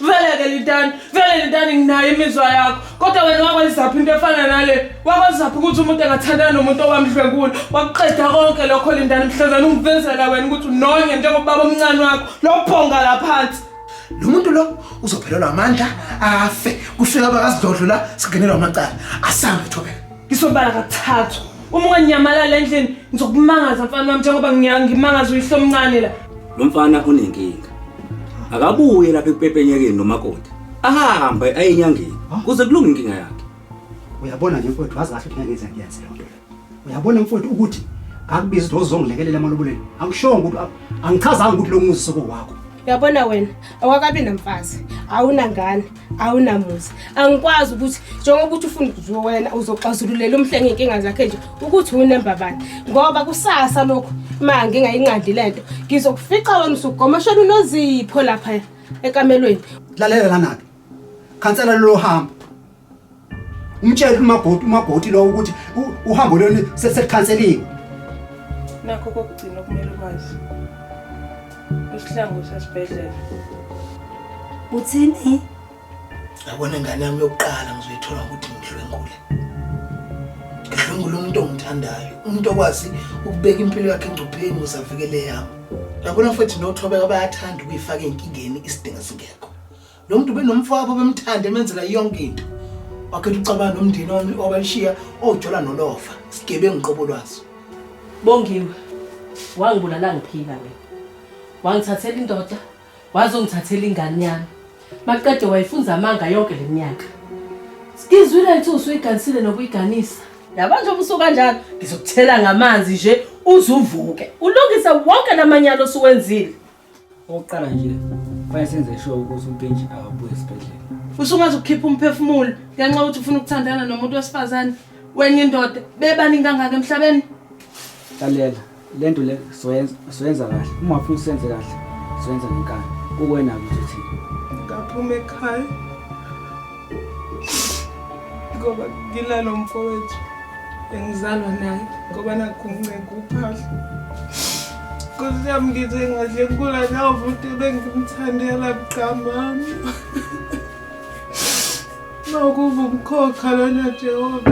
vele ke lintani vele lintani nginayo imizwa yakho kodwa wena wakwenzaphi into efana nale wakwenzaphi ukuthi umuntu engathandana nomuntu owamdlwengula wakuqeda konke lokho lintani mhlazana ungivezela wena ukuthi unonye njengobaba omncane wakho lophonga la phansi lo muntu lo uzophelelwa amandla afe kufika abakazidlodlo la singenelwa amacala asambe thobeka Ngisobala kathathu. Uma unganyamalala endlini ngizokumangaza mfana wami njengoba ngimangaza uyihlo omncane la. Lo mfana unenkinga. Akabuye lapha ekupepenyekeni nomakoti. Ahambe aye enyangeni kuze kulunge inkinga yakhe. Uyabona nje mfowethu wazi kahle ukuthi ngeke ngize ngiyenze le nto. Uyabona mfowethu ukuthi ngakubiza ukuthi uzongilekelela emaloboleni. Angishongo ukuthi angichazanga ukuthi lo muzi soko wakho. Uyabona wena awakabi namfazi awunangane awunamuzi angikwazi ukuthi njengoba ukuthi ufuna ukuzwe wena uzoxazululela umhlenge inkinga zakhe nje ukuthi unemba bani ngoba kusasa lokhu ma ngingayinqandi le nto ngizokufica wena usugomashela unozipho lapha ekamelweni lalela lana-ke khansela lolo hamba umtshele umabhoti umabhoti lowo ukuthi u- uhambo lwenu se- selikhanseliwe nakho kokugcina okumele ukwazi isihlangu sesibhedlela Uthini? yabona ingane yami yokuqala ngizoyithola ukuthi ngidlwengule ngidlwengule umuntu ongithandayo umuntu okwazi ukubeka impilo yakhe engcupheni ukuze avikele yami yabona futhi nothobeka bayathanda ukuyifaka ey'nkingeni isidingo singekho lo muntu benomfowabo bemthanda emenzela yonke into wakhetha ucabanga nomndeni wami owabalishiya ojola nolova sigebengu uqobo lwaso bongiwe wangibulala ngiphila mina wangithathela indoda wazongithathela ingane yami maqede wayifunza amanga yonke le minyaka sikizwile lithi usuyiganisile nokuyiganisa yaba nje ubusuku kanjalo ngizokuthela ngamanzi nje uzuvuke ulungise wonke lamanyalo osuwenzile Okokuqala nje kufanele senze sure ukuthi uMpintshi akabuye esibhedlela. Usungaze ukhiphe umphefumulo ngenxa yokuthi ufuna ukuthandana nomuntu wesifazane wenye indoda bebaningi kangaka emhlabeni. Lalela le nto le soyenza soyenza kahle uma ufuna usenze kahle soyenza ngenkani kuwena ukuthi uthini. Ngaphuma ekhaya ngoba nginalo mfowethu engizalwa naye ngoba nakuncenga uphahla nkosi yami ngize ngadle nkula lawo muntu ebengimthandela mgqamami mawukuva umkhokha lona jehova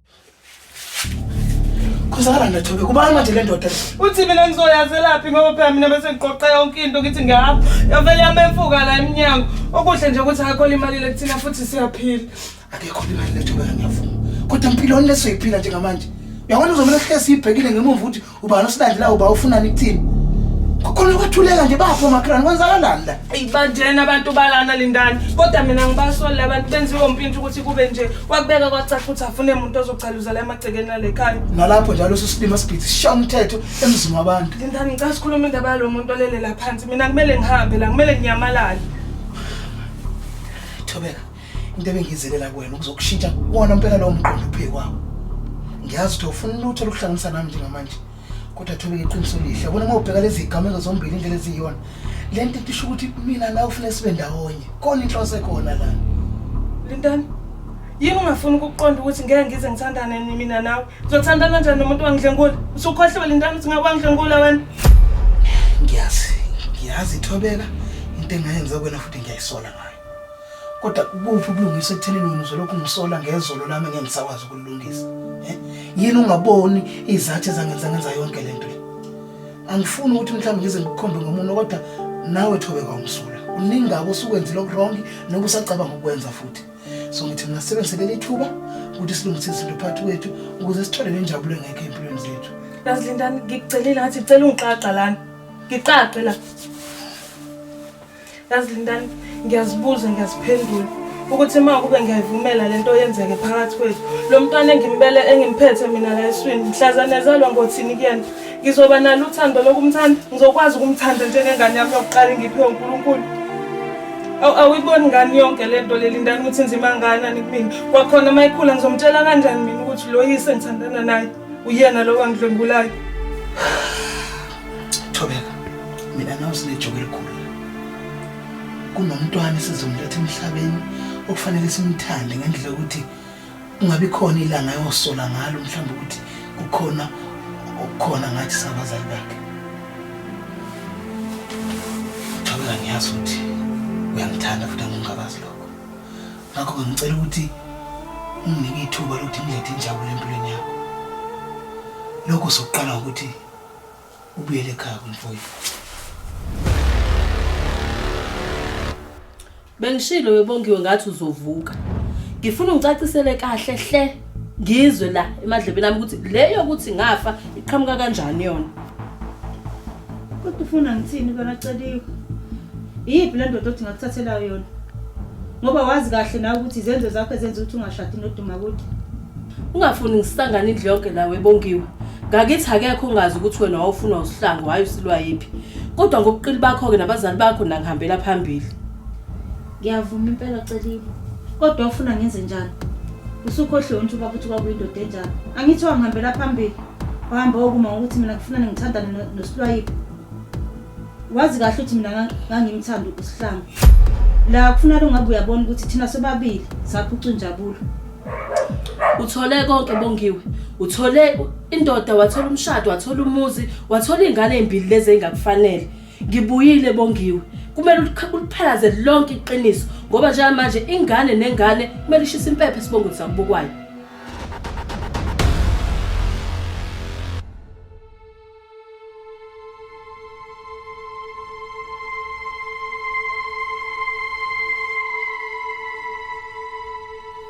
Khuzakala ndathobe kubani manje le ndoda uthi mina ngizoyazelaphi ngoba phela mina bese ngiqoqa yonke into ngithi ngihamba yavele yamemfuka la emnyango okuhle nje ukuthi akho imali lekuthina futhi siyaphila akekho imali lethobeka ngiyavuma kodwa empilweni lesoyiphila njengamanje uyabona uzomele hlesi ibhekile ngemuva ukuthi Ubani osilandela uba ufunani kuthini? Kukhona kwathuleka nje bafo makrani kwenzakalani la? Ibanjena abantu balana lindani. Kodwa mina ngibasoli labantu benziwe umpintsha ukuthi kube nje wakubeka kwacaca ukuthi afune umuntu ozocaluza la emagcekeni alekhaya. Nalapho njalo sisilima sibhithi sisha umthetho emzini wabantu. Lindani ngicela sikhulume indaba yalo muntu olele la phansi. Mina kumele ngihambe la, kumele nginyamalale. Thobeka. into ebengizelela kuwena ukuzokushintsha kuwona mpela lowo mqondo uphe kwawo ngiyazi ukuthi awufuni lutho lokuhlanganisa nami njengamanje kodwa thobeka iqiniso lihle bona uma ubheka lezi zigameko zombili indlela eziyiyona le nto itisho ukuthi mina nawe ufune sibe ndawonye kona inhloso ekhona lana lindani yini ungafuni ukuqonda ukuthi ngeke ngize ngithandane mina nawe uzothandana njani nomuntu wangidlengula usukhohliwe lindani ukuthi ngabe wangidlengula wena ngiyazi ngiyazi ithobeka into engayenza kwena futhi ngiyayisola ngayo Kodwa kubuphi ubulungisa ekuthenini mina uzolokhu ngisola ngezolo lami ngeke ngisakwazi ukulungisa. Eh? Yini ungaboni izathi ezangenza ngenza yonke lento le? Angifuni ukuthi mhlawumbe ngize ngikukhombe ngomuntu kodwa nawe thobe kwamsula. Uningi ngako usukwenzile okuwrong noba usacabanga ukwenza futhi. So ngithi mina sebenzele lithuba ukuthi silungise izinto phakathi kwethu ukuze sithole lenjabulo engekho empilweni zethu. Lazilindani ngikucelile ngathi ngicela ungiqaqa lana. Ngiqaqe la. yazi lindani ngiyazibuza ngiyaziphendula ukuthi uma kube ngiyayivumela le nto yenzeke phakathi kwethu lo mntwana engimbele engimphethe mina la eswini mhlazane ezalwa ngothini kuyena ngizoba nalo uthando lokumthanda ngizokwazi ukumthanda njengengane yami yokuqala engiphiwe unkulunkulu awuyiboni ngani yonke le nto leli ndani ukuthi nzima nganani kumina kwakhona uma ikhula ngizomtshela kanjani mina ukuthi lo yise ngithandana naye uyena lo wangidlwengulayo thobeka mina nawe sinejoke elikhulu kunomntwana esizomletha emhlabeni okufanele simthande ngendlela yokuthi ungabi khona ilanga yosola ngalo mhlawumbe ukuthi kukhona okukhona ngathi sabazali bakhe thobeka ngiyazi ukuthi uyangithanda futhi angingabazi lokho ngakho-ke ngicela ukuthi unginike ithuba lokuthi ngilethe injabulo empilweni yakho lokho sokuqala ukuthi ubuyele ekhaya kumfoyi bengishilo webongiwe ngathi uzovuka ngifuna ungicacisele kahle hle ngizwe la emadlebeni ami ukuthi le yokuthi ngafa iqhamuka kanjani yona Kodwa ufuna ngithini kona Celiwe? Iyiphi le ndoda othi ngakuthathela yona? Ngoba wazi kahle nawe ukuthi izenzo zakho ezenza ukuthi ungashadi noduma kude. Ungafuni ngisangane indlu yonke nawe bongiwe. Ngakithi akekho ongazi ukuthi wena wawufuna usihlangu hayi usilwa yiphi. Kodwa ngobuqili bakho ke nabazali bakho nangihambela phambili. Ngiyavuma impela Celiwe. Kodwa ufuna ngenze njani? Usukhohliwe nje ubaba ukuthi kwakuyindoda enjani. Angithi wangihambela phambili. Wahamba wokuma ngokuthi mina kufuna ngithandane no- noSilwayile. Wazi kahle ukuthi mina nga- ngangimthanda uSihlangu. La kufuna lo ngabe uyabona ukuthi thina sobabili saphuca injabulo. uthole konke bongiwe uthole indoda wathola umshado wathola umuzi wathola iy'ngane ey'mbili lezi ey'ngakufanele ngibuyile bongiwe kumele ulikha- uliphalaze lonke iqiniso ngoba njengamanje ingane nengane kumele ishise impepho esibongweni sakubukwayo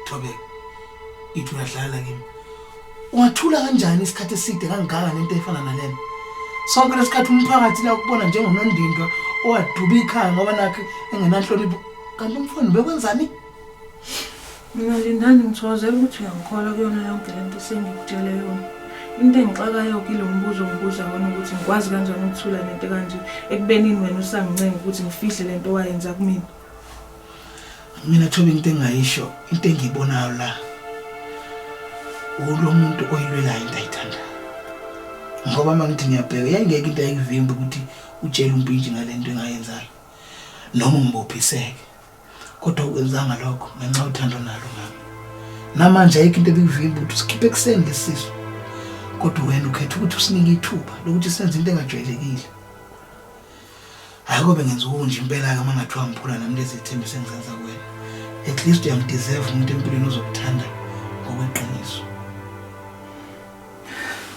Thobeka. Ithi uyadlala kimi. Ungathula kanjani isikhathi eside kangaka nento efana nalena? Sonke lesikhathi umphakathi la ukubona njengonondindwa owaduba ikhaya ngoba nakhe engenanhlonipho. Kanti umfowenu bekwenzani? Mina Lindani ngithokozela ukuthi uyangikholwa kuyona yonke le nto esengikutshele yona. Into engixakayo kilo mbuzo ngibuza wona ukuthi ngikwazi kanjani ukuthula nento kanje ekubenini wena usangincenga ukuthi ngifihle le nto wayenza kumina. Mina Thobi into engayisho into engiyibonayo la ulo muntu oyilwelayo into ayithanda ngoba uma ngithi ngiyabheka yayingeke into ayikuvimba ukuthi utshele umpintshi ngale nto engayenzayo noma ngibophiseke kodwa ukwenzanga lokho ngenxa uthando nalo mama namanje ayikho into ebikuvimba ukuthi usikhiphe ekuseni lesisu kodwa wena ukhetha ukuthi usinike ithuba lokuthi senze into engajwayelekile hayi kobe ngenza ukunje impela-ke uma ngathiwa ngiphula nami lezi thembi sengizenza kuwena at least uyamdeserve umuntu empilweni ozokuthanda ngokweqiniso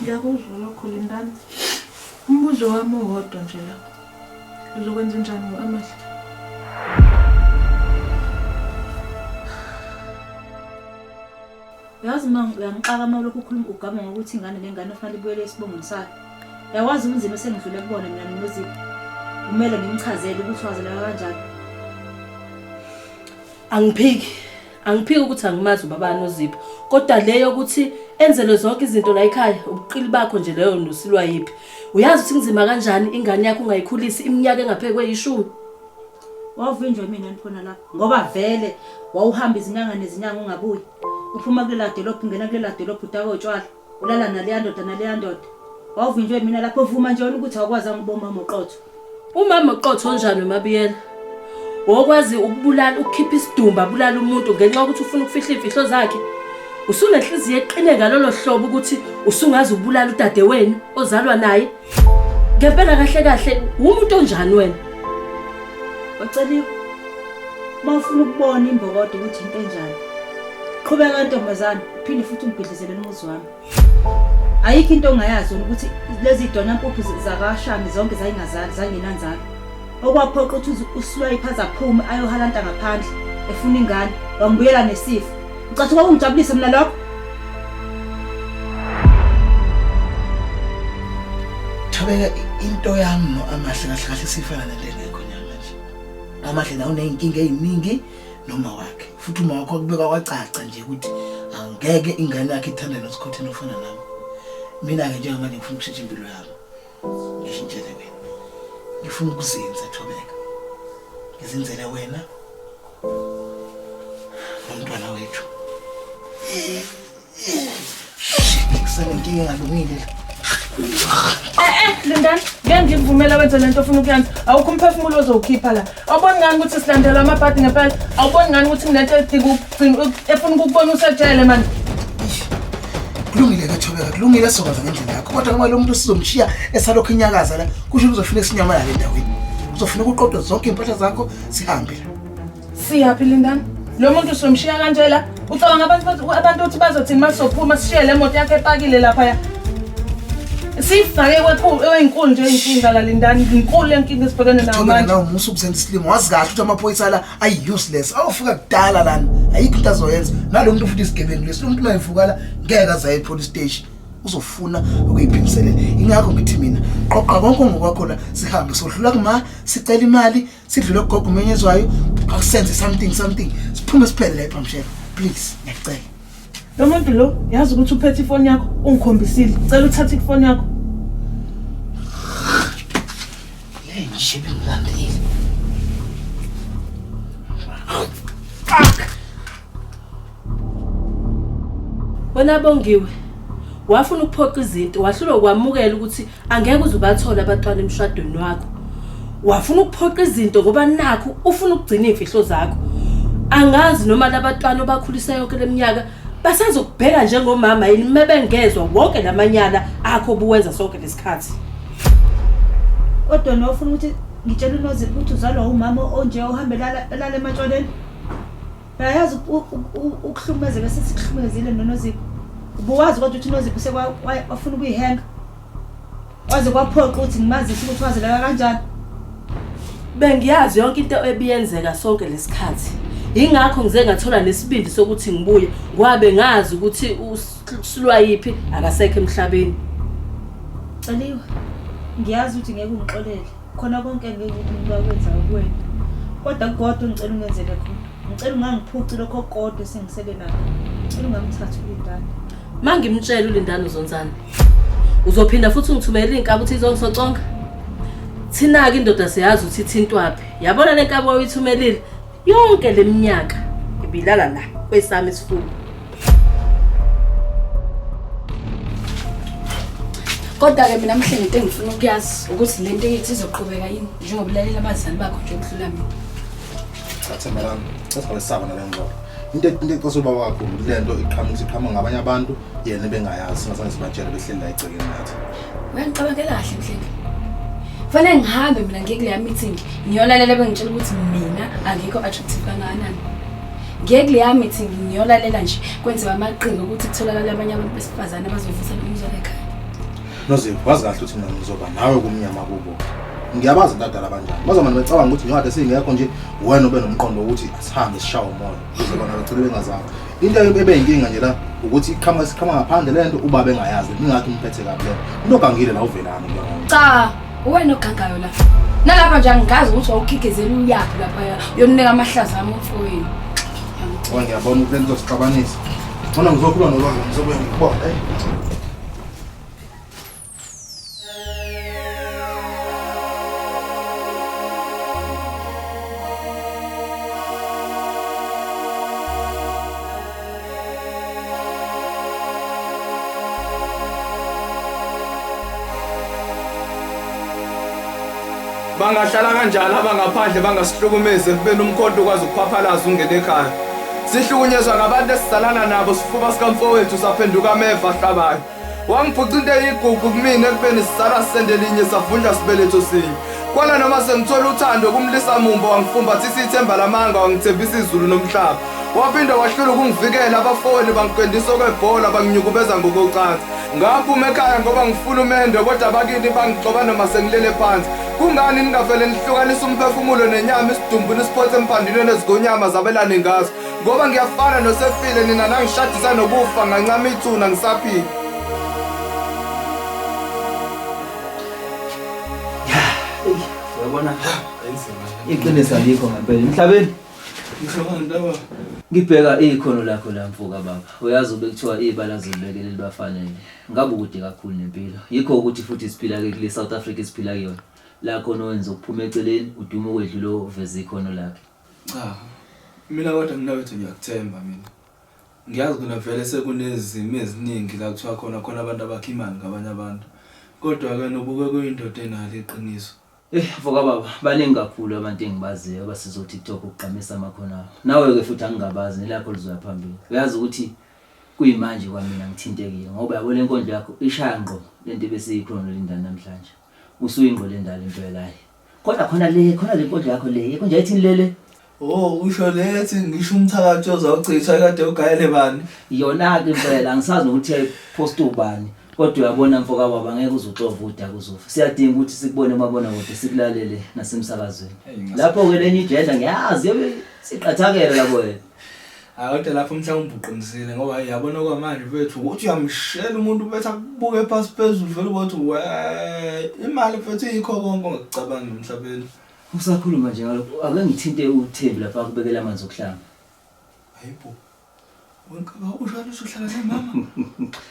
ngiyakuzwa lokho lindana umbuzo wami uwodwa nje lapho Uzokwenza njani ngo-Amahle? Yazi uma uyangixaka uma ulokhu ukhuluma ugama ngokuthi ingane nengane kufanele ibuyele esibongweni sayo. Yawazi ubunzima esengidlule kubona mina noZipho. Kumele ngimchazele ukuthi wazeleka kanjani. Angiphiki. angiphiki ukuthi angimazi ubaba nozipho kodwa leyo ukuthi enzelwe zonke izinto la ekhaya ubuqili bakho nje leyo nosilwa yiphi uyazi ukuthi kunzima kanjani ingane yakho ungayikhulisi iminyaka engapheke kweyishumi wavinjwa imina nikhona lapho ngoba vele wawuhamba izinyanga nezinyanga ungabuyi uphuma kulela dolophu ungena kulela dolophu utakotshwala Ulala naleya ndoda naleya ndoda. Wawuvinjwe yimina lapho vuma nje wena ukuthi awukwazanga ukuba umama oqotho. Umama oqotho onjani uMabiyela? Wokwazi ukubulala ukukhipha isidumba abulala umuntu ngenxa yokuthi ufuna ukufihla imfihlo zakhe. Usunenhliziyo eqine ngalolo hlobo ukuthi usungaze ubulala udade wenu ozalwa naye. ngempela kahle kahle wumuntu onjani wena waceliwe uma ufuna ukubona imbokodo ukuthi into enjani qhubeka ntombazane uphinde futhi umbhidlizele umuzi wami ayikho into ongayazi ukuthi lezi dona mpuphu zakashami zonke zayingazali zangenanzalo okwaphoqa ukuthi usiwayipe aze aphume ayohalanta ngaphandle efuna ingane wangibuyela nesifo ucathi kwakungijabulise mina lokho thobeka into yami no amahle kahle kahle sifana nalengekho nyama nje amahle nawo uneyinkinga eziningi noma wakhe futhi uma wakho kubeka kwacaca nje ukuthi angeke ingane yakhe ithande nosikhotheni ofana nami mina ke njengamanje ngifuna ukushitsha impilo yami Ngishintshele mina. Ngifuna ukuzinza Thobeka. Ngizinzele wena. Nomntwana wethu. Ngisale nkinga engalungile la. Eh eh Lindani, ngeke ngikuvumela wenze lento ofuna ukuyenza. Awukho umphefumulo ozowukhipha la. awuboni ngani ukuthi silandela amabhadi ngempela awuboni ngani ukuthi kunento edinga ukugcina efuna ukukubona usejele mani kulungile ke thobeka kulungile sokwaza ngendlela yakho kodwa ngoba lo muntu sizomshiya esalokhu inyakaza la kusho ukuthi uzofuna isinyamalala endaweni uzofuna ukuqoqa zonke iy'mpahla zakho sihambe la siyaphi lindani lo muntu somshiya kanje la ucabanga abantu bathi- abantu ukuthi bazothini uma sizophuma sishiye le moto yakho epakile laphaya siyifake kwekhu- eyinkulu nje inkinga la lindani inkulu le nkinga esibhekene nayo Thobela manje nawe musa ubusenza isilimo wazi kahle ukuthi amaphoyisa la ayi-useless awufika kudala lana ayikho into azoyenza nalo muntu futhi isigebengu lesi lo muntu uma evuka la ngeke azaye epolice station uzofuna ukuyiphimiselela ingakho ngithi mina qoqa konke ongokwakho la sihambe sohlula kuma sicela imali sidlule kugogo umenyezwayo akusenze something something siphume siphele la ebhamshela please ngiyacela lo muntu lo yazi ukuthi uphethe ifoni yakho ungikhombisile cela uthathe ifoni yakho le nje bengilandile fuck Wena Bongiwe, wafuna ukuphoqa izinto, wahlulwa ukwamukela ukuthi angeke uze ubathole abatwana emshadweni wakho. Wafuna ukuphoqa izinto ngoba nakho ufuna ukugcina imfihlo zakho. Angazi noma labatwana obakhulisa yonke leminyaka basazokubheka njengomama yini mebengezwa wonke lamanyala akho obuwenza sonke lesikhathi. Kodwa nofuna ukuthi ngitshele uNozipho ukuthi uzalwa umama onje ohambela lala ematshwaleni. Uyayazi ukuhlumeza bese sikuhlumezile noNozipho. Ubuwazi kodwa ukuthi uNozipho sekwafuna ukuyihenga. Waze kwaphoqa ukuthi ngimazise ukuthi wazileka kanjani. Bengiyazi yonke into ebiyenzeka sonke lesikhathi. Ingakho ngize ngathola nesibindi sokuthi ngibuye kwabe ngazi ukuthi usilwa yipi akasekho emhlabeni. Celiwe. Ngiyazi ukuthi ngeke ungixolele. khona konke ngeke umuntu akwenza kuwena kodwa kukodwa ngicela ungenzele khona ngicela ungangiphuci lokho kodwa esengisele nakho ngicela ungamthathi ulindane ma ngimtshela ulindane uzonzana uzophinda futhi ungithumelela iy'nkabi ukuthi izongisoconga thina-ke indoda siyazi ukuthi ithintwaphi yabona le nkabi wawuyithumelile Yonke leminyaka ngibilala la kwesami isifuba. Kodwa ke mina mhle ngento engifuna ukuyazi ukuthi le nto yethu izoqhubeka yini njengoba ulalela abazali bakho nje ukudlula mina. Thatha malami. Sesibalisaba nalengxoxo. Into into eqosa ubaba wakho le nto iqhamuka iqhamuka ngabanye abantu yena bengayazi singazange sibatshele behleli la egcekeni ngathi uyangicabangela kahle mhlenge fanele ngihambe mina ngiye kuleya meeting ngiyolalela bengitshela ukuthi mina angikho attractive kangakanani ngiye kuleya meeting ngiyolalela nje kwenziwa amaqhinga ukuthi kutholakala abanye abantu besifazane abazovusa lo mzwelo ekhaya nozivu wazi kahle ukuthi mina ngizoba nawe kumnyama kubo ngiyabazi badala abanjani bazomane becabanga ukuthi njengathi singekho nje wena ube nomqondo wokuthi asihambe sishawe umoya Uzobona ngicela bengazama. Into ebe inkinga nje la ukuthi iqhamuka siqhamuka ngaphandle lento uba bengayazi ningathi umphethe kabi lento. Into ogangile la uvelani ke. Cha, uwena ogangayo la. Nalapha nje angikazi ukuthi wawukhikezela uyaphi lapha uyoninika amahlaza ami umfowenu. Oh ngiyabona ukuthi lento sixabanisa. Ngona ngizokhuluma nolwazi ngizobuya ngikubona. bangahlala kanjani abangaphandle bangasihlukumezi ekubeni umkhonto ukwazi ukuphaphalaza ungene ekhaya sihlukunyezwa ngabantu esisalana nabo sifuba sikamfowethu saphenduka ameva ahlabayo wangiphuca into eyigugu kumina ekubeni sizalwa sisende linye savunjwa sibeletho sinye kwana noma sengithola uthando kumlisa mumbo wangifumbathisa ithemba lamanga wangithembisa izulu nomhlaba waphinde wahlula ukungivikela abafowenu bangikwendisa okwebhola banginyukubeza ngokocansi ngaphuma ekhaya ngoba ngifuna umendo kodwa bakini bangigcoba noma sengilele phansi kungani ningavele nihlukanisa umphefumulo nenyama isidumbu nisiphothe empandinweni ezigonyama zabelane ngazo ngoba ngiyafana nosefile nina nangishadisa nokufa ngancama ithuna ngisaphile uyabona iqiniso alikho ngempela emhlabeni ngibheka ikhono lakho la mfoka baba uyazi ube kuthiwa ibala zilibekele libafanele ngabe ukude kakhulu nempilo yikho ukuthi futhi siphila ke kule South Africa siphila kuyona la khona wenza ukuphuma eceleni udume kwedlula uveza ikhono lakhe Cha. Mina kodwa mina wethu ngiyakuthemba mina. Ngiyazi ukuthi vele sekunezimo eziningi la kuthiwa khona khona abantu abakha imali ngabanye abantu. Kodwa ke nobuke kuyindoda enalo iqiniso. Eh vuka baba baningi kakhulu abantu engibaziyo abasiza uTikTok ukugqamisa amakhono abo. Nawe ke futhi angingabazi nelakho lizoya phambili. Uyazi ukuthi kuyimanje kwamina ngithintekile ngoba yabo lenkondlo yakho ishaya ngqo lento ebesiyikhona lindana namhlanje. Usuyingqolendala impela ayi. Kodwa khona le khona le nkondo yakho le yekho nje ayithini lele. Oh usho lethi ngisho umthakathi ozawuchitha kade ugayele bani? Yona ke impela angisazi nokuthi yayipost ubani. Kodwa uyabona mfoka baba ngeke uzuxova uda kuzofa. Siyadinga ukuthi sikubone umabona kude sikulalele nasemsakazweni. Lapho ke lenye igender ngiyazi yobe siqathakela lapho wena. Hayi kodwa lapho mhlawumbe uqinisile ngoba yabona kwamanje mfethu ukuthi uyamshela umuntu bethi akubuke phasi phezulu vele ukuthi we imali mfethu yikho konke ongacabanga emhlabeni. Usakhuluma nje ngalokho ake ngithinte uThembi lapha akubekela amanzi okuhlamba. Hayibo. Wenkabakusho ukuthi uhlala nemama.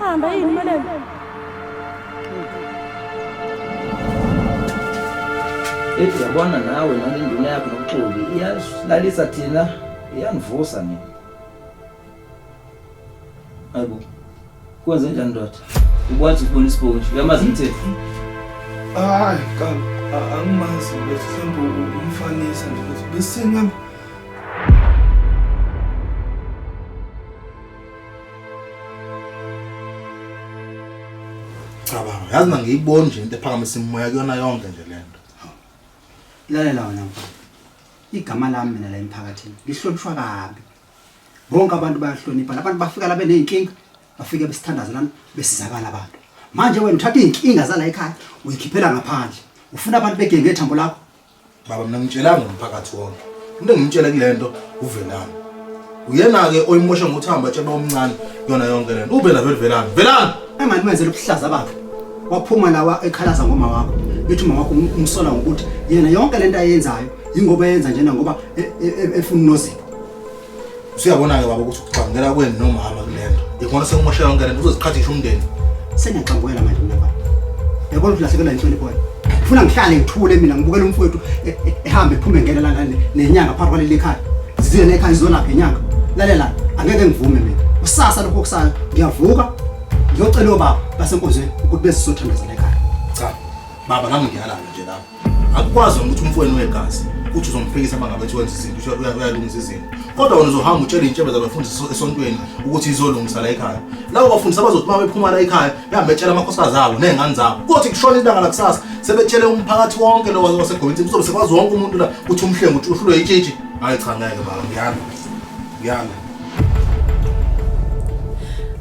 Hamba yini Malema? Ethi yabona nawe nale nduna yakho nokuxoli iyalalisa thina iyangivusa mina. Hayibo. Kwenze njani ndoda? Ukwazi ukubona isiponji, uyamazi umthetho. Hayi, cha, a- angimazi ukuthi mhlawumbe u- umfanisa nje ukuthi besingam cabanga yazi na ngiyiboni nje into ephakamisa imimoya kuyona yonke nje le nto lalela wena mfana igama lami mina la emphakathini lihlonishwa kabi bonke abantu bayahlonipha labantu bafika la beney'nkinga bafike besithandaze lana besizakala abantu manje wena uthatha iy'nkinga zala ekhaya uyikhiphela ngaphandle ufuna abantu begenge ithambo lakho Baba mina ngitshelanga umphakathi wonke. Into engimtshele kulento uvelani. Uyena ke oyimosha ngokuthi hamba tshela omncane yona yonke lento. Ube la velani. Velani. Engani wenzela ubuhlaza bakhe. Waphuma lawa ekhalaza ngoma wakho. Ethi uma wakho umsola ngokuthi yena yonke lento ayenzayo ingoba yenza njena ngoba efuna nozipo. Usuyabona-ke baba ukuthi ukuxangela kweni nomama kule nto. Ikhona sekumoshela yonke le nto uzoziqhathisha umndeni. Sengiyaxangwela manje mina baba. Yabona ukuthi ulahlekelwa inhlonipho wena. Ngifuna ngihlale ngithule mina ngibukele umfowethu e- e- ehamba ephume ngena la la- ne- nenyanga phakathi kwaleli khaya. Ziziye nekhaya izolapha inyanga. Lalela angeke ngivume mina. Kusasa lokho kusala ngiyavuka ngiyocela obaba basenkonzweni ukuthi bezisothandaza lekhaya. Cha. Baba nami ngiyalala nje lapha. akukwazi ukuthi umfweni wegazi uthi uzomphikisa uma ngabe wenza izinto uyalungisa izinto kodwa wena uzohamba utshela iy'ntshebe zabafundisi esontweni ukuthi izolungisa la ekhaya labo bafundisi abazothi uma bephuma la ekhaya behambe betshela amakhosikazi abo ney'ngane zabo kothi kushona ilanga lakusasa sebetshele umphakathi wonke lo wasegovinsi kuzobe sekwazi wonke umuntu la ukuthi umhlengu uthi uhlulwe yitshitshi hayi cha ngeke baba ngiyana ngiyana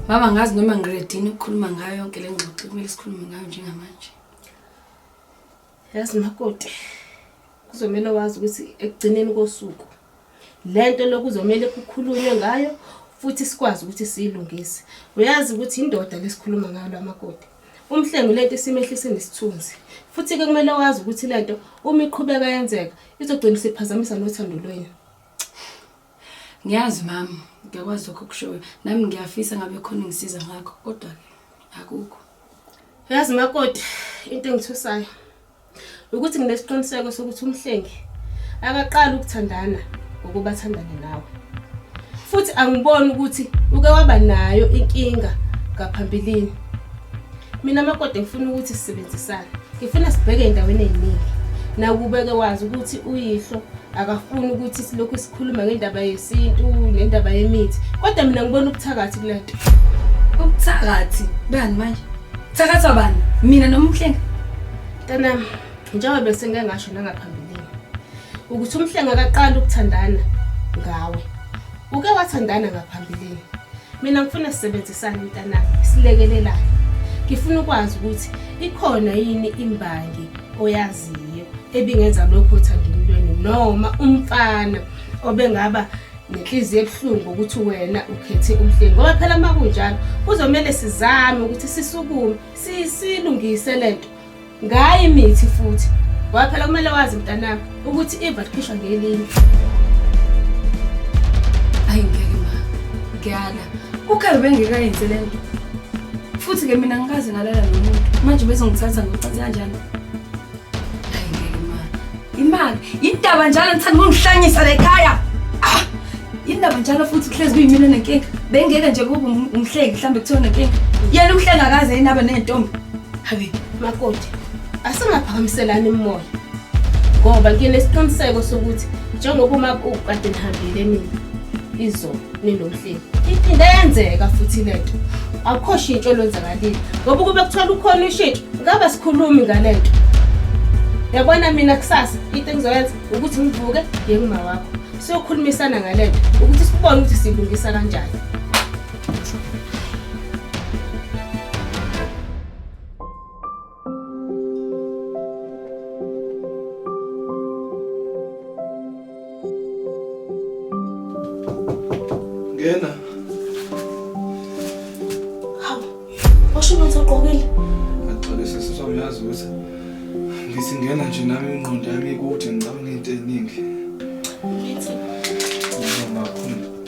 baba ngazi noma ngiredini ukukhuluma ngayo yonke le ngxoxo kumele sikhulume ngayo njengamanje yazi makoti kuzomele wazi ukuthi ekugcineni kosuku le nto lokuzomele kukhulunywe ngayo futhi sikwazi ukuthi siyilungise uyazi ukuthi indoda lesikhuluma ngayo lamakoti umhlengi lento isimehlise nesithunzi futhi ke kumele wazi ukuthi lento uma iqhubeka yenzeka izogcina isiphazamisa nothando lwenu Ngiyazi mama, ngiyakwazi lokho kushoyo. Nami ngiyafisa ngabe khona ngisiza ngakho kodwa ke akukho. Yazi makoti into engithusayo ukuthi nginesiqiniseko sokuthi umhlengi akaqali ukuthandana ngokuba athandane nawe. Futhi angiboni ukuthi uke waba nayo inkinga ngaphambilini. mina makoti ngifuna ukuthi sisebenzisane ngifuna sibheke endaweni eyiningi nakubeke wazi ukuthi uyihlo akafuni ukuthi silokhu sikhuluma ngendaba yesintu nendaba yemithi kodwa mina ngibona ubuthakathi kule nto ubuthakathi bani manje thakathwa bani mina noma umhlenga ntanami njengoba besengike ngasho nangaphambilini ukuthi umhlenga akaqali ukuthandana ngawe uke wathandana ngaphambilini mina ngifuna sisebenzisane mntanami silekelelane ngifuna ukwazi ukuthi ikhona yini imbangi oyaziyo ebingenza lokho othandeni lweni noma umfana obengaba nenhliziyo ebuhlungu ukuthi wena ukhethe umhleli ngoba phela uma kunjalo kuzomele sizame ukuthi sisukume silungise le nto ngayo imithi futhi ngoba phela kumele wazi mntanami ukuthi iva likhishwa ngelinye ayi ngeke ma ngiyala ukhabe bengekayenze le nto futhi-ke mina ngikaze ngalala nomuntu manje bezongithatha ngocansi kanjani ayi ngeke ma imali yindaba njalo ngithanda ukungihlanyisa le khaya ah! yindaba njalo futhi kuhlezi kuyimina nenkinga bengeke nje kube umhleki mhlawumbe kuthiwa nenkinga yena umhlengakaze yini abe ney'ntombi Habi, makoti, asingaphakamiselani imimoya. Ngoba nginesiqiniseko sokuthi njengoba uma ukade nihambile nini izolo ninomhleli. Iphinde yenzeka futhi le nto. Akukho shintsho olwenzakalile. Ngoba ukube kuthola ukhona ushintsho, ngaba sikhulumi ngale nto. Yabona mina kusasa into engizoyenza ukuthi ngivuke ngiye kumawakho. Siyokhulumisana ngale nto ukuthi sikubone ukuthi silungisa kanjani. Ngena. Hawu, washo umuntu ogqokile. Axolise sisi wami yazi ukuthi ngithi ngena nje nami ingqondo yami ikude ngicabanga into eningi. Ngithi Noma khona.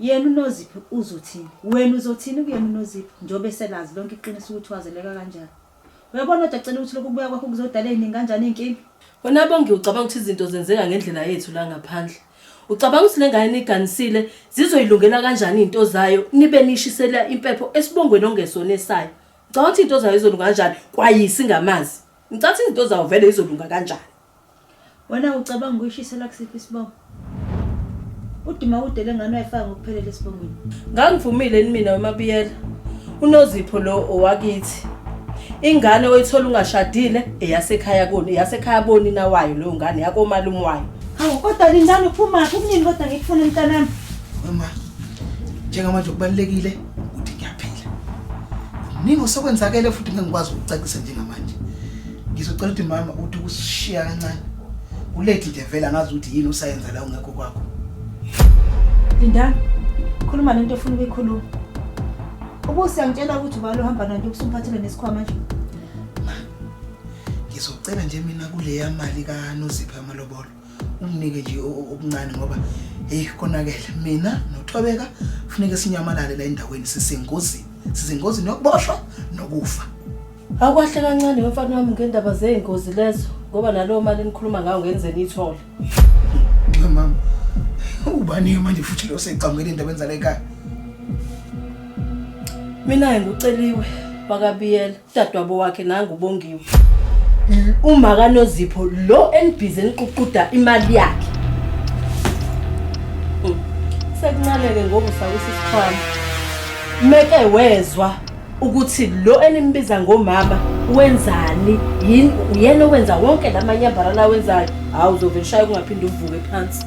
Yena uNoziphi uzothini? Wena uzothini kuyena uNoziphi njengoba eselazi lonke iqiniso ukuthi wazeleka kanjani? Uyabona kodwa Cele ukuthi lokhu kubuya kwakho kuzodala eziningi kanjani izinkinga? Wena Bongi ucabanga ukuthi izinto zenzeka ngendlela yethu la ngaphandle? Ucabanga ukuthi le ngane niyiganisile zizoyilungela kanjani izinto zayo nibe niyishisela impepho esibongweni ongesona esayo? Ucabanga ukuthi izinto zayo zizolunga kanjani kwayisi ngamazi? Ngicabanga ukuthi izinto zawo vele zizolunga kanjani? Wena ucabanga ukuyishisela kusiphi isibongo? Udima kude lengane wayifaka ngokuphelele esibongweni. Ngangivumile yini mina weMabiyela? UNozipho lo owakithi. Ingane oyithola ungashadile eyasekhaya koni, eyasekhaya boni nawayo leyo ngane yakomalume wayo. Hawu kodwa lindani uphumaphi kunini kodwa ngikufuna mntanami? Wema, njengamanje kubalulekile ukuthi ngiyaphila kuningi osekwenzakele futhi ngeke ngikwazi ukucacisa njengamanje ngizocela ukuthi mama uthi ukusishiya kancane ulethi nje vele angazi ukuthi yini usayenza la ungekho kwakho lindani khuluma lento ofuna ukuyikhuluma ubusi angitshela ukuthi ubalo uhamba nanto ukusumphathele nesikhwama nje ngizocela nje mina kuleya mali kanozipha amalobolo unginike nje okuncane ngoba heyi konakele mina nothobeka funeke sinyamalale la endaweni sisengozini sisengozini yokuboshwa nokufa awukahle kancane wemfana wami ngendaba zey'ngozi lezo ngoba nalowo mali enikhuluma ngawo ngenzeni ithole mama ubani-ke manje futhi leyo seyicamukele endabeni zala ekhaya mina-ke nguceliwe wakabiyela Udadewabo wakhe nangu uBongiwe. Uma kanozipho lo enibhizi eniququda imali yakhe. Hmm. Sekuncaneke ngoku sawisa isikhwama. Meke wezwa ukuthi lo enimbiza ngomama wenzani yini uyena owenza wonke lamanyambara lawenzayo hawu uzovele shaye kungaphinde uvuke phansi